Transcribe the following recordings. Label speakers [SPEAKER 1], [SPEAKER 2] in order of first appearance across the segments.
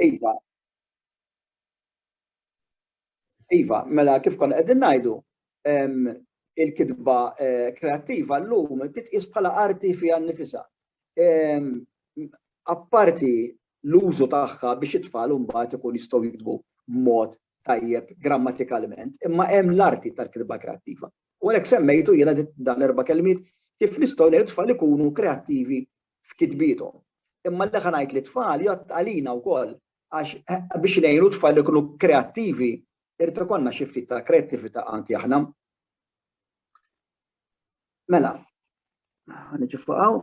[SPEAKER 1] Iva. Iva, mela kif konna qegħdin ngħidu, il-kitba eh, kreattiva llum titqis bħala arti fiha nnifisha. Apparti l-użu tagħha biex it-tfal mbagħad ikun jistgħu jiktbu b'mod tajjeb grammatikalment, imma hemm l-arti tal-kitba kreattiva. U għalhekk semmejtu jiena dan erba' kelmiet kif nistgħu ngħidu tfal ikunu kreattivi f'kitbiethom. Imma l-eħa ngħid li t-tfal jgħodd għalina wkoll għax biex ngħinu t-tfal ikunu kreattivi irid ikollna xi ftit ta' kreattività anki aħna. Mela, niġi fuqaw.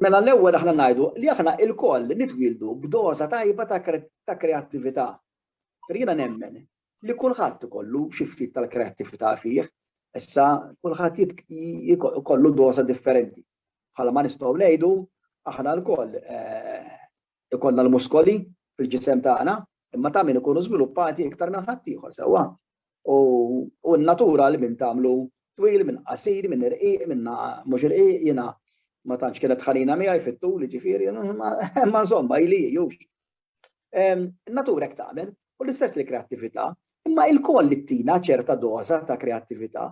[SPEAKER 1] Mela l-ewwel aħna ngħidu li aħna ilkoll nitwieldu b'doża tajba ta' kreattività. Jiena nemmen li kulħadd ikollu xi ftit tal-kreattività fih, issa kulħadd ikollu doża differenti. Bħala ma nistgħu ngħidu aħna lkoll ikollna l-muskoli fil-ġisem tagħna, imma ta' min ikunu żviluppati iktar minn ħaddieħor sewwa. U n-natura li min tagħmlu twil, min qasir, min irqiq, min mhux irqiq, jiena ma tantx kienet ħanina miegħi fit-tul, jiġifieri, imma insomma ili hi, In-natura hekk tagħmel u l-istess li kreattività, imma ilkoll li tina ċerta doża ta' kreattività,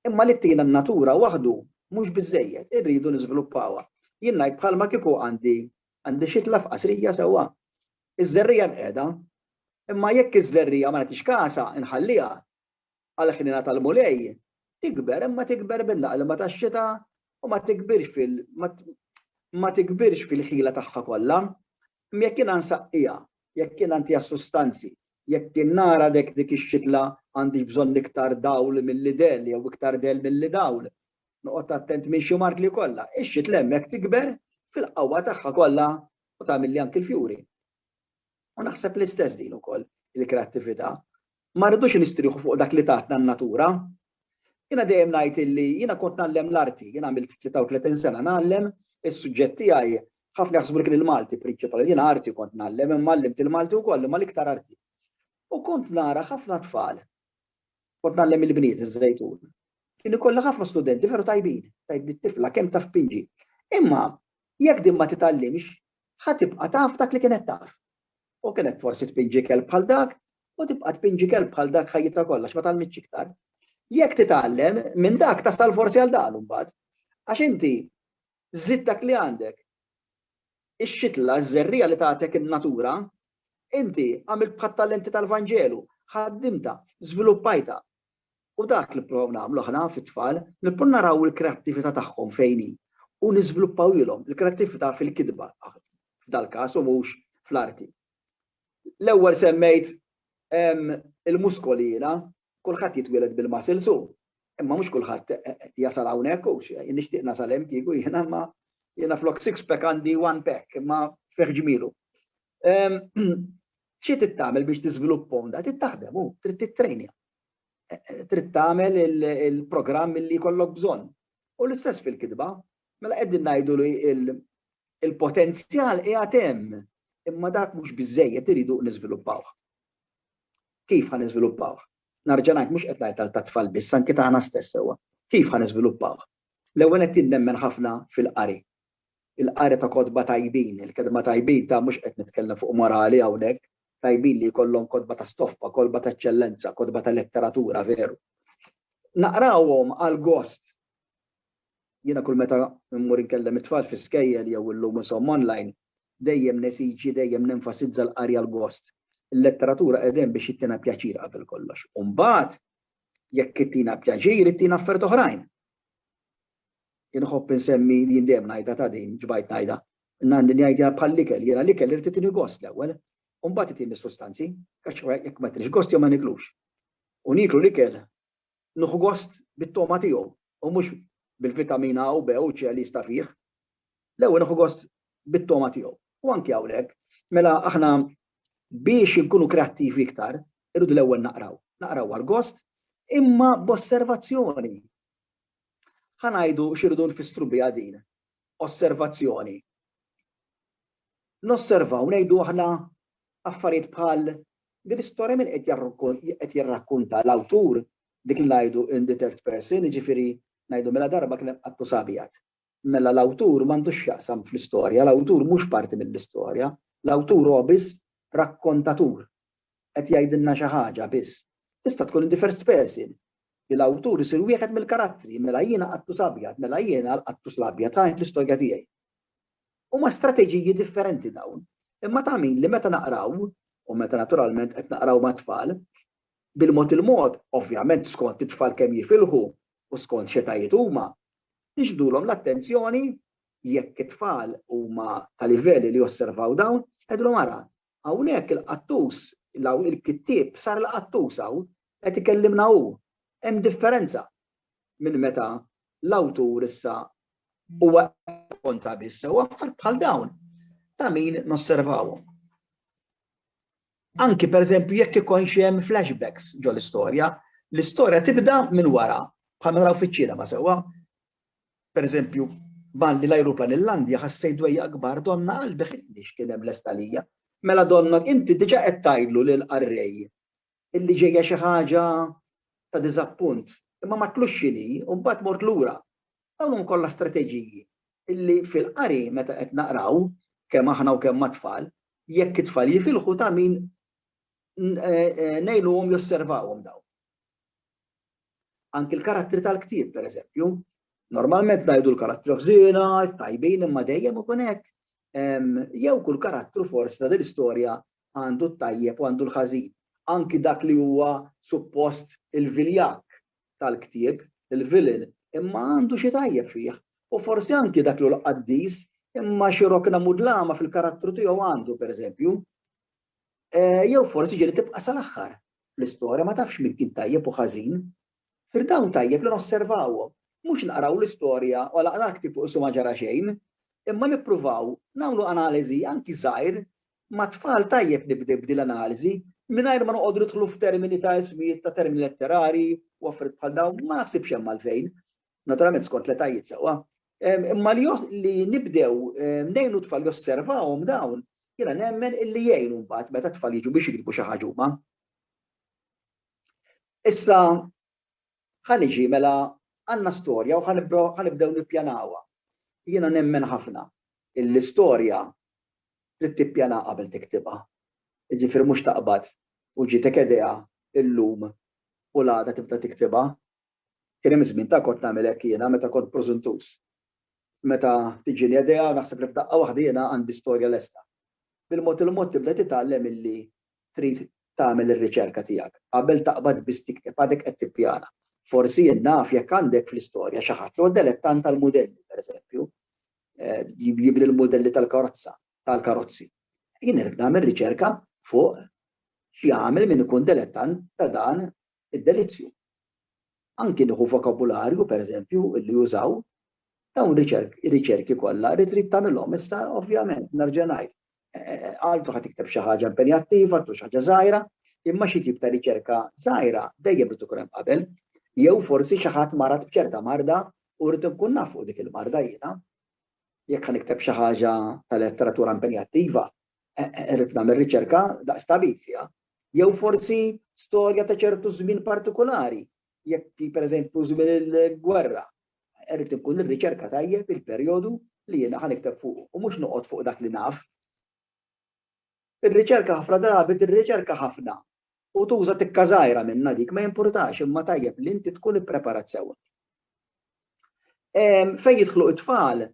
[SPEAKER 1] imma li tina n-natura waħdu mhux biżżejjed, irridu niżviluppawha. Jien ngħid bħalma kieku għandi għandi xitla f'qasrija sewwa. Iż-żerriegħa mqiegħda, imma jekk iż-żerriegħa ma nagħtix kasha, inħalliha, għall-ħniena tal-Mulej, tikber imma tikber bil-laqlma tax-xita u ma tikbirx fil ma tikbirx fil-ħila tagħha kollha. Imma jekk jiena nsaqqiha, jekk jiena ntiha sustanzi, jekk jien nara dek dik ix-xitla għandix bżonn iktar dawl milli del jew iktar del milli dawl, noqgħod attent minn xi mart li kollha, ix-xitla hemmhekk tikber fil-qawwa tagħha kollha u tagħmilli anki l-fjuri. U naħseb l-istess din ukoll il-kreattività. Ma rridux nistrieħu fuq dak li tatna n-natura. Jiena dejjem ngħid illi jiena kont ngħallem l-arti, jien għamilt 33 sena ngħallem, is-suġġett tiegħi ħafna jaħsbu li kien il-Malti prinċipali, jiena arti kont ngħallem imma għallimt il-Malti wkoll imma l-iktar arti. U kont nara ħafna tfal, kont ngħallem il-bniet iż-Żejtun. Kien ikollha ħafna studenti veru tajbin, tgħidli t-tifla kemm taf pinġi. Imma jekk din ma titgħallimx, ħa tibqa' taf dak li kienet taf. U kienet forsi tpinġi kelb bħal dak, u tibqa' tpinġi kelb bħal dak ħajjitha kollha għax ma tgħallmitx iktar. Jekk titgħallem minn dak tasal forsi għal dan imbagħad. Għax inti żidt dak li għandek. Ix-xitla, ż-żerriegħa li tagħtek in-natura, inti għamilt bħat-talenti tal-Vanġelu, ħaddimtha, żviluppajtha, U dak li nipprovaw nagħmlu aħna fit-tfal, nipprovaw naraw il-kreattività tagħhom fejn hi u niżviluppawhielhom il-kreattività fil-kitba, f'dal-każ u mhux fl-arti. L-ewwel semmejt il-muskoli jiena, kulħadd jitwieled bil-muscles hu, imma mhux kulħadd jasal hawnhekk hu, jien nixtieq nasal hemm kieku jiena imma jiena flok six pack għandi one pack imma fih ġmielu. Xi trid tagħmel biex tiżviluppa onda? Trid taħdem u trid tittrejnja. Trid tagħmel il-programm li jkollok bżonn. U l-istess fil-kitba, mela qegħdin ngħidu li il-potenzjal qiegħed hemm, imma dak mhux biżejjed iridu niżviluppawh. Kif ħa niżviluppawh? Narġa' ngħid mhux qed ngħid ta' tfal biss, anke tagħna stess sewwa. Kif ħa niżviluppawh? L-ewwel qed tinnemmen ħafna fil-qari. il-qari ta' kotba tajbin, il-kelma tajbin ta' mhux qed nitkellem fuq morali hawnhekk, tajbin li jkollhom kotba ta' stoffa, kolba ta' eċċellenza, kotba ta' letteratura veru. Naqrawhom għal gost. Jiena kull meta mmur inkellem it-tfal fi skejjel jew illum insom online, dejjem nesiġi, dejjem nenfasizza l-qari għal gost. Il-letteratura qiegħda hemm biex ittina pjaċir qabel kollox. U mbagħad jekk ittina pjaċir, ittina affarijiet oħrajn. Inħobb insemmi li jien dejjem ngħidha ta' din, ġbajt ngħidha. Nanni ngħidha bħall-ikel, jiena l-ikel irid itini gost l-ewwel, u mbagħad itini s-sustanzi, għax jekk ma jtinix gost jew ma niklux. U nieklu l-ikel nieħu gost bit-togħma tiegħu u mhux bil-vitamina A u B u C li jista' fih. L-ewwel nieħu gost bit-togħma tiegħu. U anki hawnhekk, mela aħna biex inkunu kreattivi iktar, irridu l-ewwel naqraw. Naqraw għall-gost, imma b'osservazzjoni. Ħa ngħidu x'irridu nfissru biha din osservazzjoni. Nosservaw ngħidu aħna affarijiet bħal din l-istorja min qed jirrakkunta l-awtur dik li ngħidu in the third person, jiġifieri ngħidu mela darba kien hemm qattu sabjad. mela l-awtur m'għandux x'jaqsam fl-istorja, l-awtur mhux parti mill-istorja, l-awtur huwa biss rakkontatur, qed jgħidilna xi ħaġa biss. Tista' tkun in the first person, li l-awtur isir wieħed mill-karattri, mela jiena Qattus Abjad, mela jiena l-Qattus l-Abjad, ħa ngħid l-istorja tiegħi. Huma strateġiji differenti dawn, imma ta' min li meta naqraw, u meta naturalment qed naqraw mat-tfal, bil-mod il-mod, ovvjament skont it-tfal kemm jifilħu, u skont x'etajiet huma, nixbdulhom l-attenzjoni jekk it-tfal huma ta' livell li josservaw dawn, ngħidulhom ara, hawnhekk il-qattus, il-kittieb sar il-qattus hawn, qed ikellimna hu. Hemm differenza minn meta l-awtur issa huwa qed jirrakkonta biss, u affarijiet bħal dawn ta' min nosservawhom. Anki pereżempju jekk ikonx hemm flashbacks ġol-istorja, l-istorja tibda minn wara, bħal ma naraw fiċ-ċinema sewwa. Pereżempju, malli l-ajruplan illandia ħassejt dwejjaq kbar donnha qalbi ħittni x'kien hemm lest għalija. Mela donnok inti diġa qed tgħidlu lill-qarrej illi ġejja xi ħaġa ta' diżappunt, imma ma tlux x'inhi u mbagħad mort lura. Dawn huma kollha strateġiji illi fil-qari meta qed naqraw, kemm aħna u kemm mat-tfal, jekk it-tfal jifilħu ta' min ngħinuhom josservawhom dawn. Anki l-karattri tal-ktieb, per eżempju, normalment ngħidu l-karattri ħżiena, tajbin imma dejjem ikun hekk. Jew kull karattru forsi ta' din istorja għandu t-tajjeb u għandu l-ħażin. Anki dak li huwa suppost il-viljak tal-ktieb, il-vilin, imma għandu xi tajjeb fih, u forsi anki dak l-hu l-qaddis, imma xi rokna mudlama fil-karattru tiegħu għandu, pereżempju. Jew forsi ġieli tibqa' sal-aħħar fl-istorja ma tafx min kien tajjeb u ħażin. Fir dawn tajjeb li nosservawhom, mhux naqraw l-istorja u għalaqna l-ktieb u qisu ma ġara xejn, imma nippruvaw nagħmlu analiżi anki żgħir Mat-tfal tajjeb nibdew b'din l-analiżi, mingħajr ma noqogħdu nidħlu f'termini ta' ismijiet ta' termini letterari u affarijiet bħal dawn, ma naħsibx hemm għalfejn, naturalment skont l-etajiet sewwa. Imma li nibdew ngħinu t-tfal josservawhom dawn, jiena nemmen illi jgħin mbagħad meta t-tfal jiġu biex jiktbu xi ħaġa huma. Issa ħa niġi mela għandna storja u ħa nibdew nippjanawha. Jiena nemmen ħafna illi storja trid tippjana qabel tiktibha. Jiġifieri mhux taqbad u ġietek idea illum u l-għada tibda tiktibha. Kien hemm żmien ta' kont nagħmel hekk jiena meta kont prożuntuż. Meta tiġini idea u naħseb li f'daqqa waħda jiena għandi storja lesta. Bil-mod il-mod tibda titgħallem illi trid tagħmel ir-riċerka tiegħek qabel taqbad biss tikteb għadek qed tippjana. Forsi jien naf jekk għandek fl-istorja xi ħadd li huwa delettant tal-mudelli, pereżempju, jibni l-mudelli tal-karozza, tal-karozzi. Jien irrid nagħmel riċerka fuq x'jagħmel min ikun delettant ta' dan id-delizzju. Anki nieħu vokabularju, pereżempju, li jużaw, dawn riċerki kollha rrid trid tagħmilhom. Issa, ovvjament, nerġa' ngħid, għaltu ħad tikteb xi ħaġa impenjattiva, għaltu xi ħaġa żgħira, imma xi tip ta' riċerka żgħira dejjem rid ikun hemm qabel, jew forsi xi ħadd marat b'ċerta marda u rrid nkun naf fuq dik il-marda jiena. Jekk ħan ikteb xi ħaġa ta' letteratura impenjattiva, eh, eh, rrid nagħmel riċerka daqs tabib fiha. Jew forsi storja ta' ċertu żmien partikolari, jekk pereżempju żmien il-gwerra, Irrid inkun nirriċerka tajjeb il-perjodu li jiena ħa nikteb fuqu u mhux noqgħod fuq dak li naf. Ir-riċerka ħafna drabi tirriċerka ħafna u tuża tikka żgħira minnha dik, ma jimpurtax imma tajjeb li inti tkun ippreparat sewwa. Fejn jidħlu t-tfal,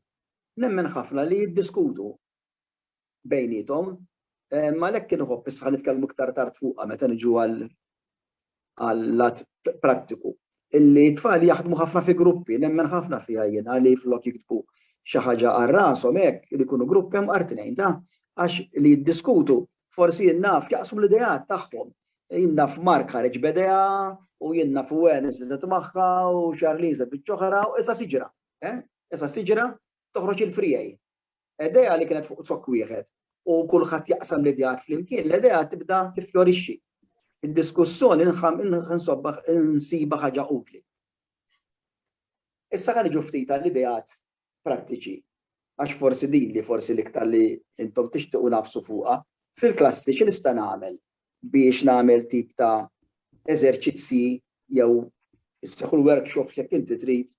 [SPEAKER 1] nemmen ħafna li jiddiskutu bejniethom. Għalhekk kien iħobb issa ħa nitkellmu iktar tard fuqha meta niġu għall-lat prattiku. Illi t-tfal jaħdmu ħafna fi gruppi, nemmen ħafna fiha jiena li flok jiktbu xi ħaġa għal rashom hekk li jkunu grupp hemm art tnejn ta' għax li jiddiskutu forsi jien naf jaqsmu l-ideat tagħhom. Jien naf Mark ħareġ b'idea u jien naf Wen iżdidet magħha u Charlize biċ-ċoħra u issa siġra. Issa siġra toħroġ il-frijaj. Idea li kienet fuq zokk wieħed u kulħadd jaqsam l-ideat flimkien, l-idea tibda tiffjorixxi. Id-diskussjoni nsiba ħaġa utli. Issa ħalli ġu ftit għall-ideat prattiċi, għax forsi din li forsi l-iktar li intom tixtiqu nafsu fuqha, fil-klassi xi nista' nagħmel biex nagħmel tip ta' eżerċizzji jew isseħħu l-workshops jekk inti trid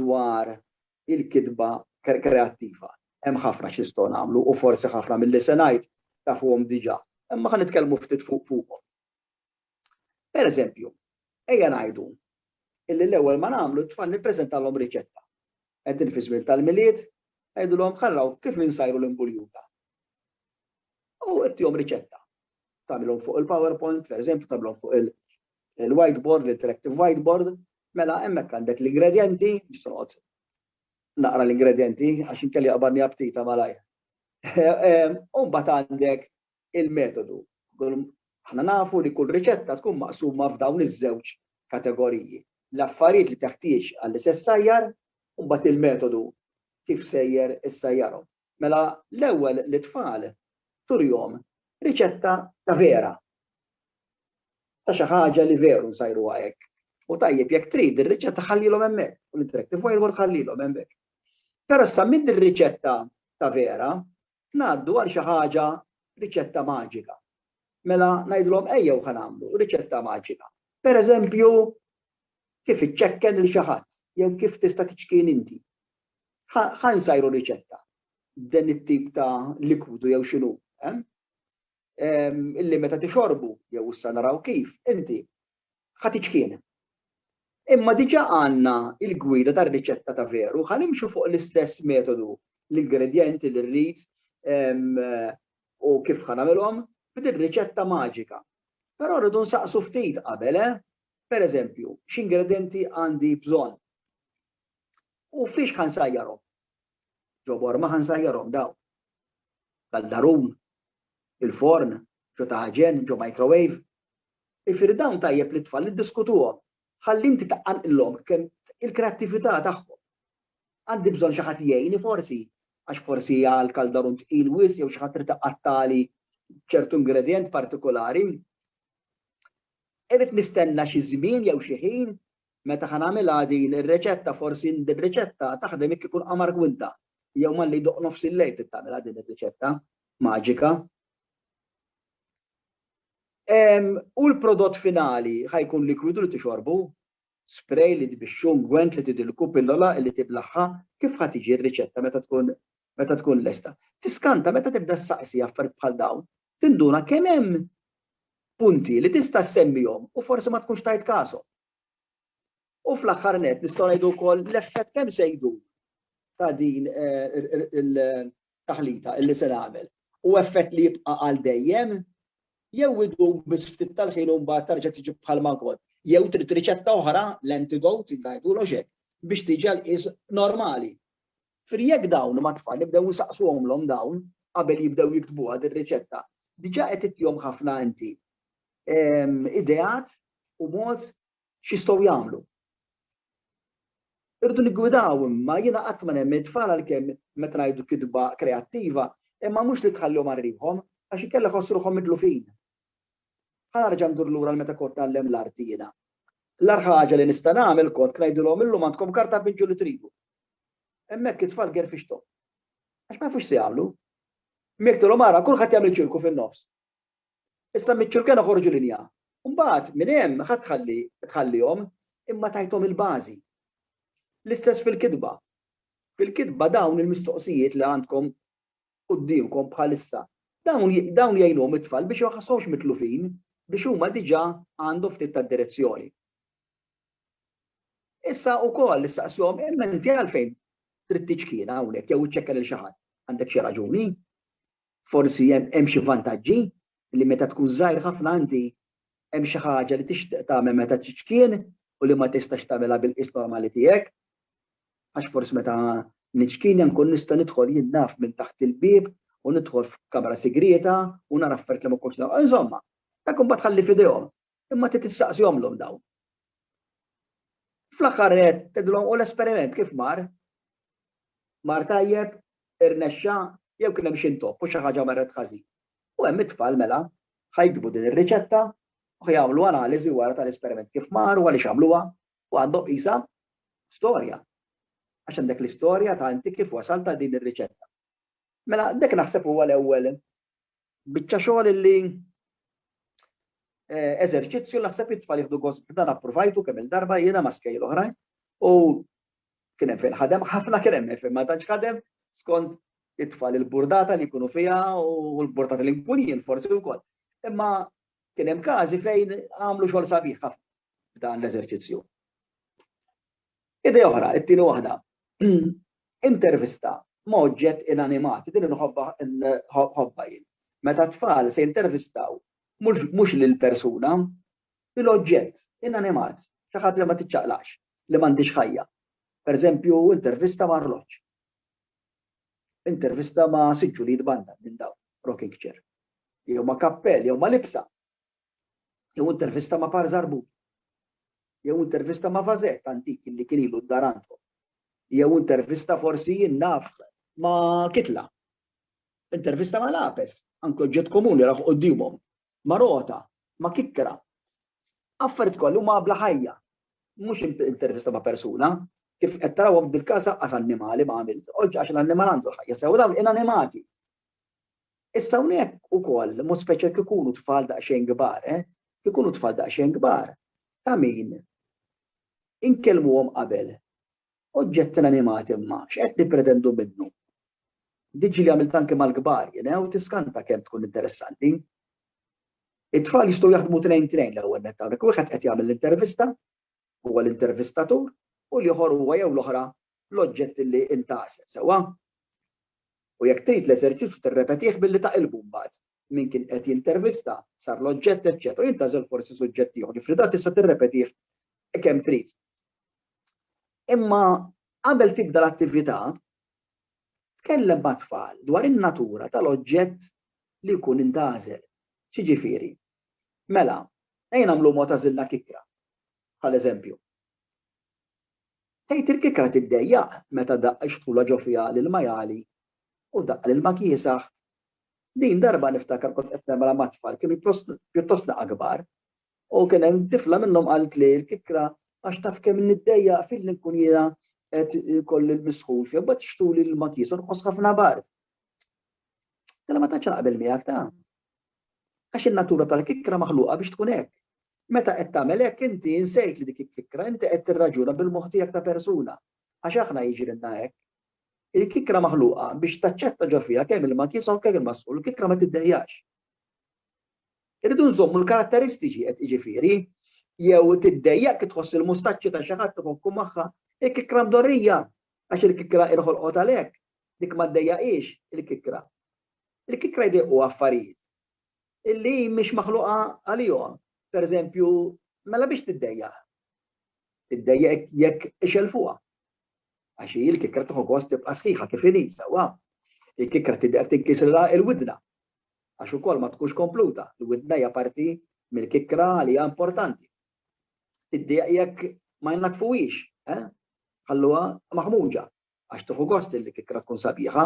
[SPEAKER 1] dwar il-kitba kreattiva. Hemm ħafna x'nistgħu nagħmlu u forsi ħafna milli se ngħid tafuhom diġà, imma ħa nitkellmu ftit fuqhom. Pereżempju, ejja ngħidu illi l-ewwel ma nagħmlu t-tfal nippreżentalhom riċetta. Qegħdin fi żmien tal-Milied, ngħidulhom ħa naraw kif insajru l-imbuljuta. U ittihom riċetta. Tagħmilhom fuq il-PowerPoint, pereżempju, tagħmilhom fuq il-whiteboard, l-interactive whiteboard, mela hemmhekk għandek l-ingredjenti, nista' noqgħod naqra l-ingredjenti għax inkelli qabarni aptita malajr. U mbagħad għandek il-metodu. Aħna nafu li kull riċetta tkun maqsuma f'dawn iż-żewġ kategoriji. L-affarijiet li teħtieġ għall-istess sajjar, u mbagħad il-metodu kif sejjer is-sajjarhom. Mela l-ewwel lit-tfal turihom riċetta ta' vera, ta' xi ħaġa li veru nsajruha hekk. U tajjeb jekk trid ir-riċetta ħallilhom hemmhekk, u l-interactive whiteboard ħallilhom hemmhekk. Però issa minn din riċetta ta' vera ngħaddu għal xi ħaġa riċetta maġika. Mela ngħidilhom ejjew ħa nagħmlu riċetta maġika. Pereżempju kif iċċekken lil xi ħadd jew kif tista' tiċkien inti. Ħa nsajru riċetta b'dan it-tip ta' likwidu jew x'inhu, illi meta tixorbu, jew issa naraw kif, inti ħa tiċkien. Imma diġà għandna l-gwida tar-riċetta ta' veru, ħa nimxu fuq l-istess metodu, l-ingredjenti li rrid u kif ħa nagħmilhom b'din riċetta maġika. Però rridu nsaqsu ftit qabel, eh? Pereżempju, x'ingredjenti għandi bżonn? U fiex ħa nsajjarhom? Ġo Borma ħa nsajjarhom dawn. Kaldarun, il-forn, ġo taħġen, ġo microwave. Ifieri dawn tajjeb li t-tfal iddiskutuhom ħalli inti taqanqilhom kemm il-kreattività tagħhom. Għandi bżonn xi ħadd jgħini forsi għax forsi għal kaldarun tqil wisq jew xi ħadd trid iqattagħli ċertu ingredjent partikolari. Irrid nistenna xi żmien jew xi ħin Meta ħa nagħmilha din ir-riċetta forsi din ir-riċetta taħdem jekk ikun qamar kwinta jew malli jdoqq nofs il-lejl trid tagħmilha din ir-riċetta maġika. U l-prodott finali ħa jkun likwidu li tixorbu, spray li tbixxu, ungwent li tidilku, pillola li tiblaħħa, kif ħa tiġi r-riċetta meta tkun meta tkun lesta. Tiskanta meta tibda ssaqsi affarijiet bħal dawn, tinduna kemm hemm punti li tista' ssemmihom u forsi ma tkunx tajt kashom. U fl-aħħar nett nistgħu ngħidu wkoll l-effett kemm se jdum ta' din il-taħlita illi se nagħmel. U effett li jibqa' għal dejjem jew idum biss ftit tal-ħin u mbagħad terġa' tiġi bħal ma kont. Jew trid riċetta oħra, l-antidote, ngħidulhom x'hekk, biex tiġi għall-qies normali. Jiġifieri jekk dawn mat-tfal nibdew insaqsuhomlhom dawn qabel jibdew jiktbuha dir-riċetta, diġà qed ittihom ħafna inti ideat u mod x'jistgħu jagħmlu. Irridu niggwidaw imma jiena qatt ma nemmen it-tfal għalkemm meta ngħidu kitba kreattiva imma mhux li tħallihom għal riħhom għax inkella jħossu ruħhom mitlufin. Ħa nerġa' ndur lura għal meta kont ngħallem l-arti jiena. L-agħar ħaġa li nista' nagħmel kont ngħidilhom illum għandkom karta pinċu li tridu. Hemmhekk it-tfal gerfixthom. Għax ma jafux x'sejagħmlu. Miegħek tgħidilhom ara kulħadd jagħmel ċirku fin-nofs. Issa miċ-ċirken oħorġu linja. Mbagħad minn hemm ħadd tħalli tħallihom imma tajthom il-bażi. L-istess fil-kitba. Fil-kitba dawn il-mistoqsijiet li għandkom quddiemkom bħalissa dawn dawn jgħinuhom it-tfal biex ma jħasshomx mitlufin biex huma diġà għandhom ftit tad-direzzjoni. Issa wkoll issaqshom imma inti għalfejn trid tiċkina hawnhekk jew iċċekka lil xi ħadd. Għandek xi raġuni? Forsi hemm xi vantaġġi li meta tkun żgħir ħafna inti hemm xi ħaġa li tixtieq tagħmel meta tiċkien u li ma tistax tagħmilha bil-qis normali tiegħek. Għax forsi meta niċkien nkun nista' nidħol jien naf minn taħt il-bieb u nidħol f'kamra sigrieta u nara affarijiet li ma kontx Insomma, dak imbagħad ħalli f'idejhom. Imma trid tistaqsihomlhom dawn. Fl-aħħar qed tgħidilhom u l-esperiment kif mar? Mar tajjeb, irnexxa, jew kien hemm xi ntopp u xi ħaġa marret ħażin. U hemm it-tfal mela ħajkbu din ir-riċetta u jagħmlu analiżi wara tal-esperiment kif mar u għaliex għamluha u għandhom qisha storja. Għax għandek l-istorja ta' inti kif wasal ta' din ir-riċetta. Mela, dik naħseb huwa l-ewwel Biċċa xogħol illi eżerċizzju naħseb li t-tfal jieħdu gost b'dan appruvajtu kemm il-darba jiena ma' skejjel oħrajn u kien hemm fejn ħadem ħafna kien hemm fejn ma tantx ħadem skont it-tfal il-burdata li jkunu fiha u l-burdata li nkun jien forsi wkoll. Imma kien hemm każi fejn għamlu xogħol sabiħ ħafna dan l-eżerċizzju. Idea oħra, it-tieni waħda, intervista ma' oġġett inanimat, din inħobbha nħobbha jien. Meta t-tfal se jintervistaw mhux lill-persuna, lill-oġġett inanimat, xi ħadd li ma tiċċaqlaqx, li m'għandhiex ħajja. Pereżempju, intervista ma' arloġġ. Intervista ma' siġġu li jitbandal minn dawn, rocking chair. Jew ma' kappell, jew ma' libsa. jew intervista ma' Par Żarbut, jew intervista ma' Vazett antik li kien ilu d-dar għandkom, jew intervista forsi jien naf ma' Kitla, intervista ma' Lapes, anki oġġett komuni raw quddiemhom, ma' Rota, ma' Kikra. Affarijiet kollha huma bla ħajja, mhux intervista ma' persuna, kif qed tarawhom f'dil-każ aqqas annimali ma' għamilt, oġġ għax l-annimal għandu ħajja sew dawn inanimati. Issa hawnhekk ukoll, mod speċjal kif ikunu tfal daqsxejn kbar, eh? Kif ikunu tfal daqsxejn kbar, ta' min inkellmuhom qabel. Oġġetti inanimati imma x'qed nippretendu minnu? Diġi li għamilt anke mal-kbar, jena, u tiskanta kemm tkun interessanti. It-tfal jistgħu jaħdmu trejn trejn l-ewwel net hawnhekk. Wieħed qed jagħmel l-intervista, huwa l-intervistatur, u l-ieħor huwa jew l-oħra l-oġġett li intgħases, sewwa? U jekk trid l-eżerċizzju tirrepetih billi taqilbu mbagħad. Min kien qed jintervista, sar l-oġġett, eċċetera u jintgħażel forsi suġġett ieħor. Ġifieri dan tista' tirrepetih kemm trid. Imma qabel tibda l-attività, tkellem mat-tfal dwar in-natura tal-oġġett li jkun intgħażel. X'jiġifieri? Mela, ejja nagħmlu mod għażilna kikra, bħal eżempju. Tgħid il-kikra tiddejjaq meta daqq ix-xtula ġo fiha lil Majali u daqq lil ma kiesaħ. Din darba niftakar kont qed nemra ma' tfal kienu pjuttostna kbar u kien hemm tifla minnhom qaltli l-kikra għax taf kemm niddejjaq filli nkun jiena qed ikolli l-misħun fija mbagħad xtuli lil ma kiesa nqos ħafna bard. Tgħid tgħid. Tgħid jiena ma tantx naqbel miegħek ta. Għax in-natura tal-kikkra maħluqa biex tkun hekk. Meta qed tagħmel hekk inti insejt li dik hi kikkra, inti qed tirraġuna bil-moħħ tiegħek ta' persuna, għax aħna jiġrilna hekk. Il-kikkra maħluqa biex taċċetta ġo fiha kemm ilma kiesa u kemm ilma sħun, il-kikkra ma tiddejjax. Irridu nżommu l-karatteristiċi qed jiġifieri, jew tiddejjaq kif tħoss il-mustaċċi ta' xi ħadd iħokku magħha, il-kikkra mdorrija għax il-kikkra inħolqot għalhekk, dik ma ddejjaqhiex il-kikkra. li kikk la jdeqqu affarijiet illi hi mhix maħluqa għalihom. Per eżempju, mela biex tiddejjaq? Tiddejjaq jekk ixelfuha. Għax hi l-kikra tieħu gost tibqa' sħiħa kif inhi sewwa. Il-kikra tiddeq tinkisrilha l-widna. Għax ukoll ma tkunx kompluta, l-widna hija parti mill-kikra li hija importanti. Tiddeq jekk ma jnaddfuhiex, eh? ħalluha maħmuġa. għax tieħu gost li l-kikkra tkun sabiħa,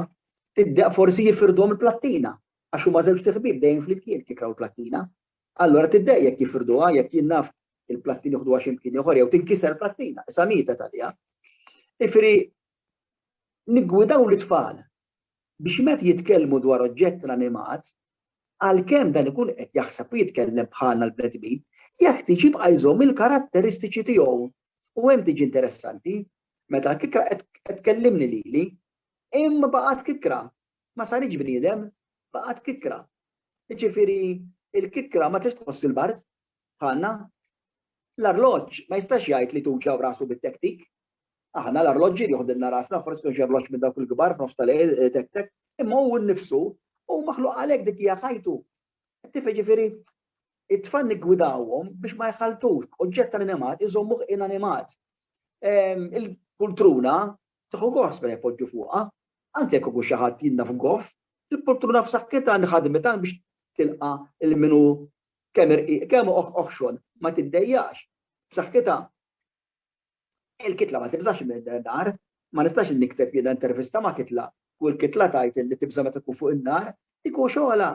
[SPEAKER 1] tibda forsi jifirduhom il-plattina għax huma żewġt iħbieb dejjem flimkien kikkra u l-plattina. Allura tiddeq jekk jifirduha, jekk jien naf il-plattin joħduha xi mkien ieħor jew tinkiser plattina, issa mieta talija. Ifri niggwidaw l-tfal biex met jitkellmu dwar oġġett l-animat, għalkemm dan ikun qed jaħseb u jitkellem bħalna l-bnedmin, jekk tiġi bqajżhom il-karatteristiċi tiegħu. U hemm tiġi interessanti, meta l-kikra qed tkellimni lili, imma baqgħet kikra, ma saritx bniedem, baqgħet kikra. Jiġifieri l-kikra ma tistax tħoss il-bard bħalna. L-arloġġ ma jistax jgħid li tuġaw rasu bit-tektik. Aħna l-arloġġi joħdilna rasna, forsi kienx arloġġ minn dawk il-kbar f'nofs tal-lejl eh, tek tek, imma hu nnifsu u maħluq għalhekk dik hija ħajtu Ttif jiġifieri it-tfal niggwidawhom biex ma jħaltux oġġett tal-animat iżommuh inanimat. Ehm, il-pultruna tieħu gost meta jpoġġu fuqha, anke jekk ikun xi ħadd jinna f'goff, il-pultruna f'saħħitha li ħadmet biex tilqa' il-minu kemm irqiq kemm oħxon ma tiddejjax b'saħħitha. Il-kitla ma tibżax min-nar, ma nistax nikteb jiena intervista ma' kitla u l-kitla tgħid illi tibża' meta tkun fuq in-nar, iku xogħolha.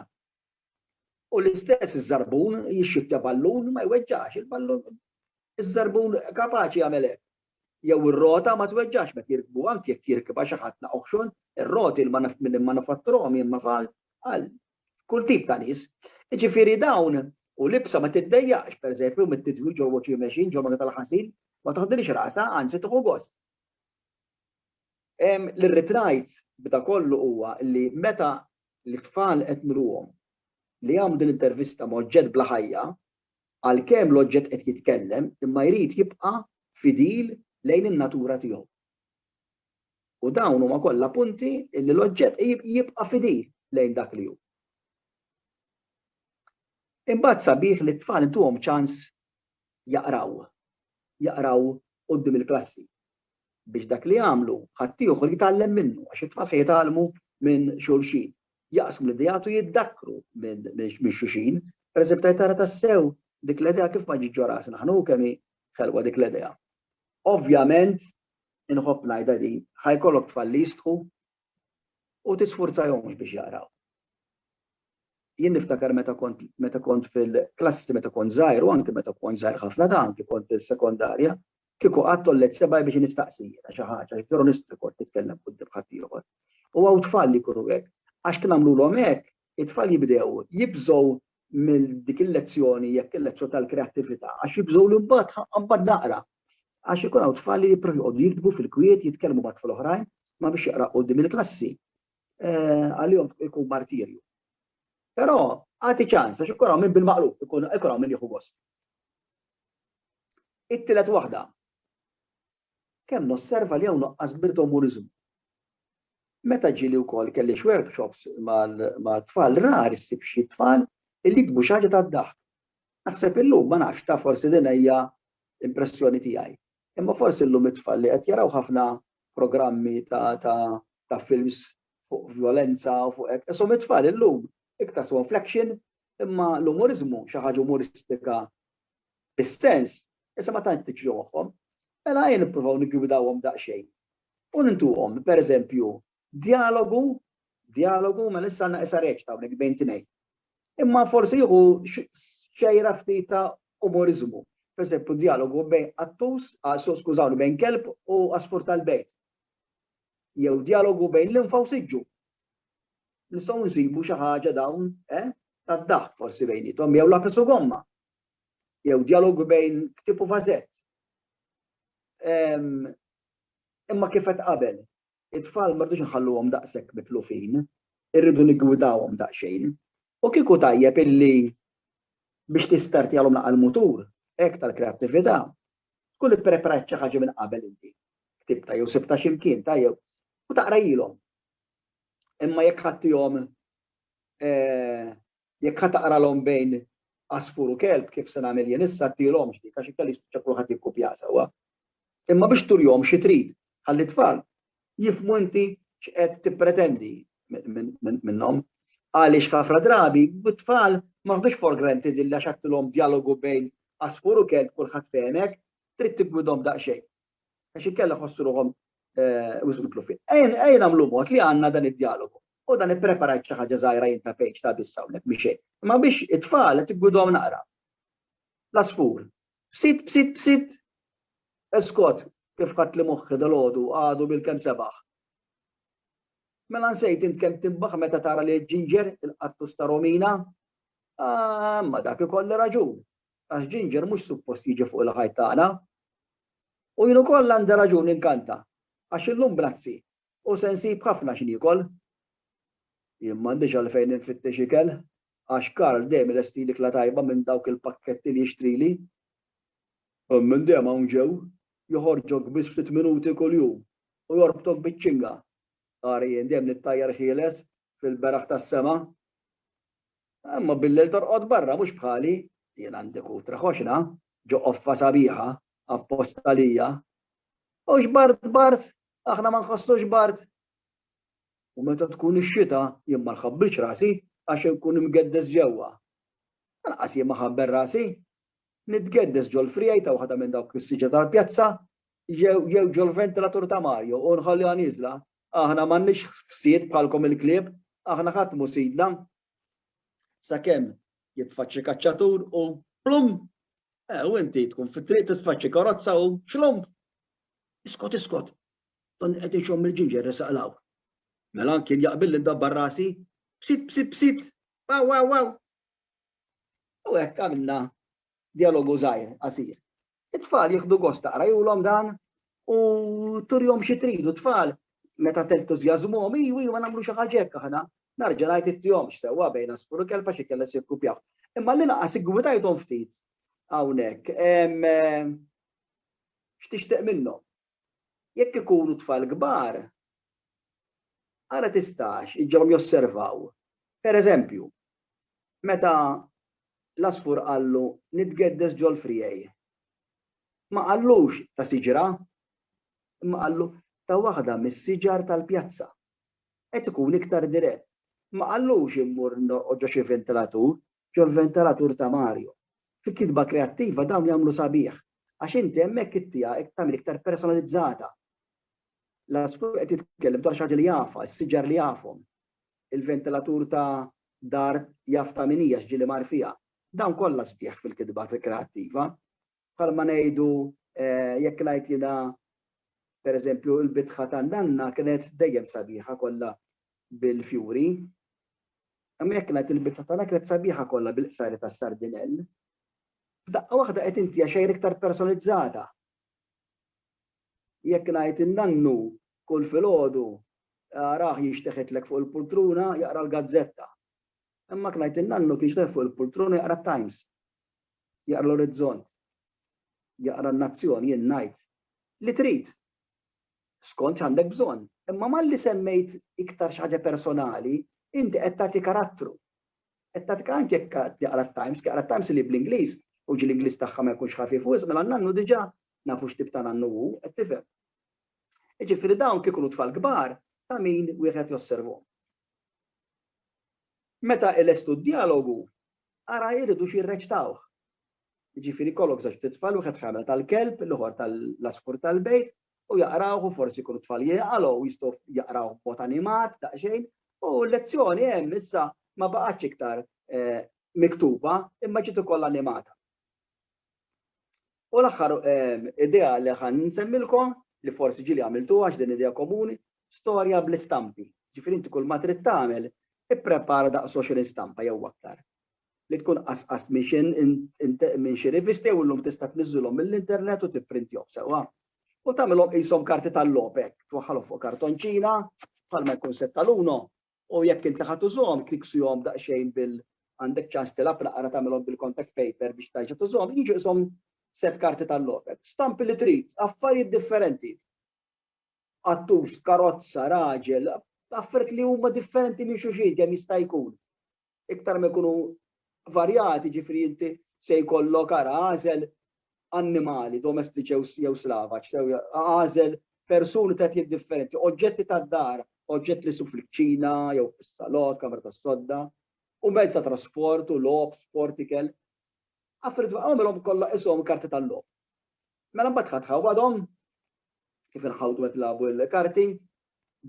[SPEAKER 1] U l-istess iż-żarbun jixxittja ballun ma jweġġax il-ballun, iż-żarbun kapaċi jagħmel hekk. Jew ir-rota ma tweġġax meta jirkbuha anki jekk jirkibha xi ħadd naqoħxon, ir-roti l-manifatturuhom jien ma fal, Kull tip ta' nies. Jiġifieri dawn u l-ibsa ma tiddejjaqx, pereżempju, mit-tidwil ġol wacchie machine, ġol magna tal-ħasil, ma toħdilhiex rasha, anzi tieħu gost. Li rrid ngħid b'da kollu huwa li meta l-itfal qed nruhom li jagħmlu din l-intervista ma' oġġett bla ħajja, għalkemm l-oġġett qed jitkellem imma jrid jibqa' fidil lejn in-natura tiegħu. U dawn huma kollha punti li l-oġġett jibqa' fidil lejn dak li hu. Imbagħad sabiħ li t-tfal intuhom ċans jaqraw, jaqraw quddiem il-klassi biex dak li jagħmlu ħaddieħor jitgħallem minnu għax it-tfal se jitgħallmu minn xulxin. Jaqsmu l-ideat u jiddakkru minn xulxin. Pereżempju, tgħid tara tassew dik l-idea kif ma ġietx ġo rasna aħna u kemm hi ħelwa dik l-idea. Ovvjament, inħobb ngħidha din, ħa jkollok tfal li jistħu u tisfurzajhomx biex jaqraw. Jien niftakar meta kont meta kont fil-klassi meta kont żgħir u anke meta kont żgħir ħafna ta' anke kont fis-sekondarja, kieku qatt tollet sebgħi biex nistaqsi jiena xi ħaġa, jekk joro nistħu kont nitkellem quddiem ħaddieħor. U hawn tfal li jkunu hekk, għax kien għamlulhom hekk, it-tfal jibdew jibżgħu minn dik il-lezzjoni jekk il-lezzjoni tal-kreattività għax jibżgħu li mbagħad ħa mbagħad naqra. Għax ikun hawn tfal li jipprovaw joqogħdu jiktbu fil-kwiet, jitkellmu ma' tfal oħrajn, ma biex jaqra qudiem il-klassi. Eh, għalihom ikun martirju. Però għati ċans għax ikun hawn minn bil-maqlub, ikun hawn minn jieħu gost. It-tielet waħda. Kemm nosserva li hawn nuqqas kbir ta' umuriżmu. Meta ġieli wkoll kelli x'workshops mat-tfal rar issib xi tfal li jiktbu xi ħaġa tad-daħk. Naħseb illum, ma nafx, taf forsi din hija impressjoni tiegħi, imma forsi llum it-tfal li qed jaraw ħafna programmi ta' films fuq vjolenza u fuq hekk, ishom it-tfal illum iktar sibhom fl-action imma l-umuriżmu, xi ħaġa umuristika bis-sens, issa ma tantx tiġri moħħhom, mela ejja nippruvaw niggwidawhom daqsxejn u nintuhom, pereżempju, djalogu, djalogu, mela issa għandna issa reċta hawnhekk bejn tnejn. Imma forsi jieħu xejra ftit ta' umoriżmu. Pereżempju, djalogu bejn qattus, skużawni, bejn kelb u asfur tal-bejt. Jew djalogu bejn l-infa u siġġu. Nistgħu nsibu xi ħaġa dawn, eh? Tad-daħk forsi bejnietom, jew lapis u gomma. jew djalogu bejn ktieb u vażett. Imma kif qed qabel, it-tfal ma rridux nħalluhom daqshekk mitlufin, irridu niggwidawhom daqsxejn. U kieku tajjeb illi biex tistartjalhom naqal mutur, hekk tal-kreattività, tkun ippreparat xi ħaġa minn qabel inti. Ktibta jew sibta xi mkien tajjeb u taqrajilhom. Imma jekk ħadtihom eh, Jekk ħa taqralhom bejn għasfur u kelb, kif se nagħmel jien issa, għadtilhomx dik għax inkella jispiċċa kulħadd jikkupjaha sewwa. Imma biex turihom xi trid, ħalli t-tfal jifhmu inti x'qed tippretendi minnhom. Għaliex ħafna drabi, t-tfal ma ħdux for granted illa xattilhom djalogu bejn għasfur u kelb kulħadd fehmek, trid tiggwidhom daqsxejn. għax inkella jħossu ruħhom wisq mitlufin. Ejja nagħmlu mod li għandna dan id-djalogu. U dan ippreparajt xi ħaġa żgħira jien ta' page ta' biss hawnhekk mhix xejn. Imma biex it-tfal qed igwidhom naqra. L-għasfur. Bsit, bsit, bsit. Eskot, kif ħadd li moħħi dal-għodu għadu bil-kemm sebaħ. Mela nsejt int kemm timbaħ meta tara li ġinġer il-qattus ta' Romina. Ah, ma dak ikolli raġun. Għax Ginger mhux suppost jiġi fuq il-ħajt tagħna. U jien ukoll għandi raġun ninkanta, għax illum b'razzi u se nsib ħafna x'niekol. Jien m'għandix għalfejn infittex ikel, għax Karl dejjem ilestili kla tajba minn dawk il-pakketti li jixtrili. Hemm min dejjem hawn ġew, joħorġok biss ftit minuti kuljum u jorbtok biċ-ċinga. Ara jien dejjem nittajjar ħieles fil-beraħ tas-sema. Imma billejl torqod barra, mhux bħali. Jien għandi kutra ħoxra, ġo qoffa sabiħa, apposta għalija. Hux bard bard, aħna ma nħossux bard. U meta tkun ix-xita, jien ma nħabbilx rasi għax inkun imgeddes ġewwa. Lanqas jien ma ħabbel rasi. Nitgeddes ġol-friegħi ta' waħda minn dawk is-siġra tal-pjazza jew ġol-ventilatur ta' Mario u nħalliha nieżla Aħna m'għandniex ħsied bħalkom il-klieb, aħna ħadd mhu sidna. Sakemm jitfaċċi kaċċatur u plum! Eh, u inti tkun fit-triq titfaċċi karozza u xlomb! Iskot, iskot! Dan qed ixomm il-ġinġer resaqlaw. Mela anki jaqbil li dabbar rasi, bsit, bsit, bsit, wow, wow, wow. U hekk għamilna dialogu żgħir qasir. It-tfal jieħdu gost taqrajulhom dan u turjom xi tridu tfal meta tentużjażmuhom iju iju ma nagħmlu xi ħaġa hekk aħna. Narġa' ngħid ittihomx sewwa bejn għasfur u kelb għax ikella se jikkupjaw. Imma l-inqas iggwidajthom ftit hawnhekk. X'tixtieq minnhom? Jekk ikunu tfal kbar, ara tistax iġġorhom josservaw, per eżempju, meta l-għasfur qallu nitgeddes ġol-friegħi. Ma qallux ta' siġra, imma qallu ta' waħda mis-siġar tal-pjazza. Qed ikun iktar dirett. Ma qallux immur norqod ġo xi vintilatur, ġol-ventalatur ta' Mario. Fi kitba kreattiva dawn jagħmlu sabiħ għax inti hemmhekk it-tiegħek qed tagħmel iktar personalizzata. L-għasfur qed jitkellem dwar xi ħaġa li jafha, is-siġar li jafhom. Il-ventilatur ta' dar jaf ta' min hi għax ġieli mar fiha. Dawn kollha sbieħ fil-kitba kreattiva. Bħalma ngħidu jekk ngħid jiena pereżempju l-bitħa tan-nanna kienet dejjem sabiħa kollha bil-fjuri. Imma jekk ngħid il-bitħa tagħna kienet sabiħa kollha bil-qsari tas-sardinell. F'daqqa waħda qed intiha xejn iktar personalizzata. Jekk ngħid in-nannu kull filgħodu rah jinxteħitlek fuq il-pultruna jaqra l-gazzetta. Imma jekk ngħid in-nannu kien jinxteħ fuq il-pultruna jaqra t-Times. jaqra l-orizzont, jaqra n-nazzjon, jien ngħid li trid, skont x'għandek bżonn. Imma malli semmejt iktar xi ħaġa personali, inti qed tagħti karattru. Qed tagħti anke jekk jaqra t-Times, jaqra t-Times li bl-Ingliż, u ġi l-Ingliż tagħha ma jkunx ħafif wisq, mela n-nannu diġà nafu x'tip ta' nannu hu, qed tifhem. Jiġifieri dawn kif ikunu tfal kbar ta' min wieħed josservhom. Meta ilestu d-djalogu, Ara jridux jirreċtawh. Jiġifieri jkollok żewġ ftit tfal, wieħed ħamel tal-kelb, l-ieħor tal-għasfur tal-bejt, u jaqrawh u forsi jkunu tfal jieqal u jistgħu jaqrawh b'mod animat daqsxejn, u l-lezzjoni hemm issa ma baqgħetx iktar miktuba imma ġiet ukoll animata. U l-aħħar ehm, idea li ħan nsemmilkom li forsi ġili għamiltu għax din idea komuni, storja bl-istampi. Ġifieri inti kull ma trid tagħmel, ipprepara daqs 20 stampa jew aktar. Li tkun qasqas minn xi rivisti u llum tista' tniżżilhom mill-internet u tipprintihom sewwa. U tagħmilhom qishom karti tal-lopek, twaħħalhom fuq kartonċina, bħalma jkun setta l-uno, U jekk inti ħa tużhom, kniksihom daqsxejn bil għandek ċans tilgħab naqra tagħmilhom bil-contact paper biex terġa' tużhom, jiġu qishom sett karti tal-logħob. Stampi li trid, affarijiet differenti. Qattus, karozza, raġel, affarijiet li huma differenti minn xulxin kemm jista' jkun. Iktar ma jkunu varjati, jiġifieri inti se jkollok ara għażel annimali domestiċi jew slavaġ, għażel persuni ta' etnijiet differenti, oġġetti tad-dar, oġġetti li jsibu fil-kċina jew fis-salott, kamra tas-sodda, u mezz ta' trasport u logħob, sport, ikel. Affarijiet għamilhom kollha qishom karti tal-logħob. Mela mbagħad ħadd ħawadhom kif inħawdu qed nilagħbu l-karti,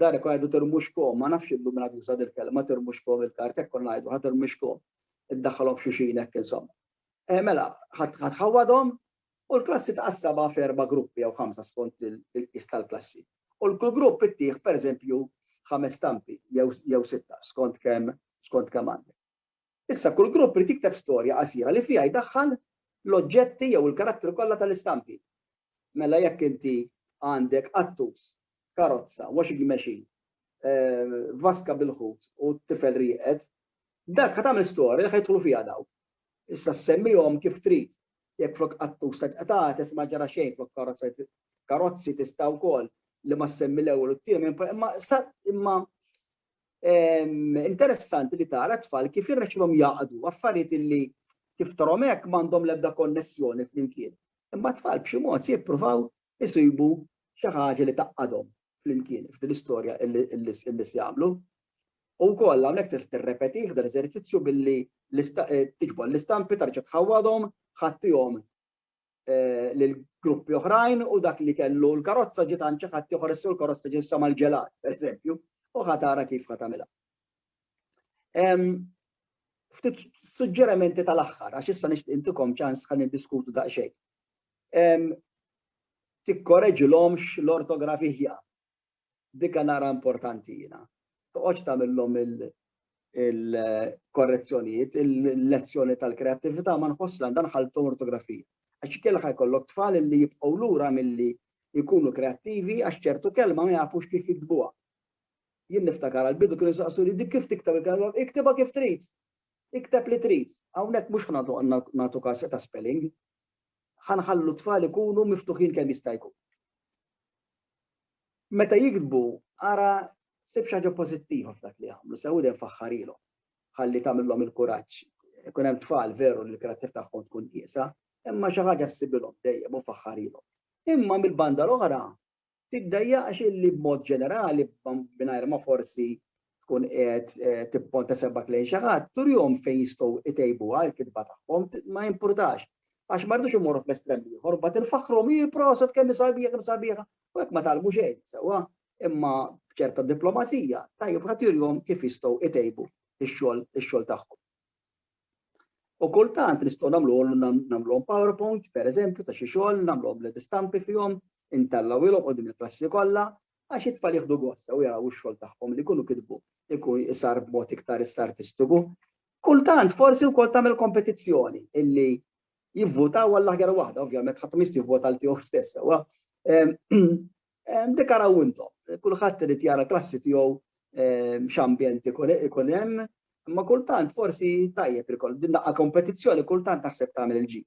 [SPEAKER 1] Dan ikun jgħidu tirmuxkom, ma nafx illum min għad juża dil-kelma tirmuxkom il-kart, hekk konna ngħidu ħa tirmixkom, iddaħħalhom f'xulxin hekk insomma. Eh, mela, ħa tħawwadhom u l-klassi tqassabha f'erba' gruppi jew ħamsa skont il-qis tal-klassi. U l-kull grupp ittih pereżempju ħames stampi jew sitta skont kemm skont kemm għandek. Issa kull grupp irid jikteb storja qasira li fiha jdaħħal l-oġġetti jew il-karattri kollha tal-istampi. Mela jekk inti għandek qattus, karozza, washing machine, vaska bil-ħut u tifel rieqed, dak ħa tagħmel storja li ħa jidħlu fiha dawk. Issa ssemmihom kif trid. Jekk flok qattus tgħid qtates ma ġara xejn flok karozza tgħid karozzi tista' wkoll li ma ssemmi l-ewwel u t-tiemen imma imma interessanti li tara tfal kif jirnexxilhom jaqdu affarijiet illi kif tarhom hekk m'għandhom l-ebda konnessjoni flimkien. Imma tfal b'xi mod se jippruvaw isibu xi ħaġa li taqadhom flimkien f'din l-istorja illi se jagħmlu. U wkoll hawnhekk tista' tirrepeti f'dan l-eżerċizzju billi eh, tiġbor l-istampi tarġa' tħawwadhom, ħattihom lil gruppi oħrajn u dak li kellu l-karozza ġiet għand xi ħadd ieħor issa l-karozza ġiet sama l-ġelat, pereżempju, u ħa tara kif ħa tagħmilha. Ftit suġġerimenti tal-aħħar għax issa nixtieq intikom ċans ħa niddiskutu daqsxejn. Tikkoreġilhomx l-ortografija Dikha nara importanti jiena. Toqgħodx tagħmilhom il-korrezzjonijiet, il-lezzjoni tal-kreattività ma nħoss li għandha nħalltu ortografija. Għax ikellha jkollok tfal li jibqgħu lura milli jkunu kreattivi għax ċertu kelma ma jafux kif jiktbuha. Jien niftakar għal-bidu kienu saqsu li dik kif tikteb il-kelma, iktibha kif trid. Ikteb li trid. Hawnhekk mhux nagħtu każ ta' spelling. ħa nħallu t-tfal ikunu miftuħin kemm jista' jkun. Meta jiktbu, ara sib xi ħaġa pożittiva f'dak li jagħmlu, sew dejjem faħħarilhom. Ħalli tagħmilhom il-kuraġġ. Ikun hemm tfal veru li l-karattiv tagħhom tkun qiesa, imma xi ħaġa ssibilhom dejjem u faħħarilhom. Imma mill-banda l-oħra, Tiddejjaqx illi b'mod ġenerali, mingħajr ma forsi tkun qiegħed tipponta sebgħek lejn xi ħadd, turihom fejn jistgħu jtejbuha l-kitba tagħhom, ma jimpurtax. Għax ma rridux immorru fl-estrem l-ieħor, mbagħad infaħħruhom, ih proset kemm hi sabiħa, kemm hi sabiħa, u hekk ma tgħallmu xejn sewwa. Imma b'ċerta diplomazija, tajjeb wieħed jurihom kif jistgħu jtejbu x-xogħol tagħhom. U kultant nistgħu nagħmluhom nagħmluhom PowerPoint, pereżempju, ta' xi xogħol, nagħmluhom bl istampi fihom, intellgħuhilhom qudiem il-klassi kollha, għax it-tfal jieħdu gost sew jaraw ix-xogħol tagħhom li jkunu kitbu jkun isar b'mod iktar issa artistiku. Kultant forsi wkoll tagħmel kompetizzjoni illi jivvutaw għall-aħjar waħda, ovvjament ħadd mist jivvota għal tiegħu stess sewwa. Ehm, Dik araw intom, kulħadd irid jara klassi tiegħu x'ambjent ikun hemm, imma kultant forsi tajjeb li kollha din daqqa kompetizzjoni kultant naħseb tagħmel il-ġid.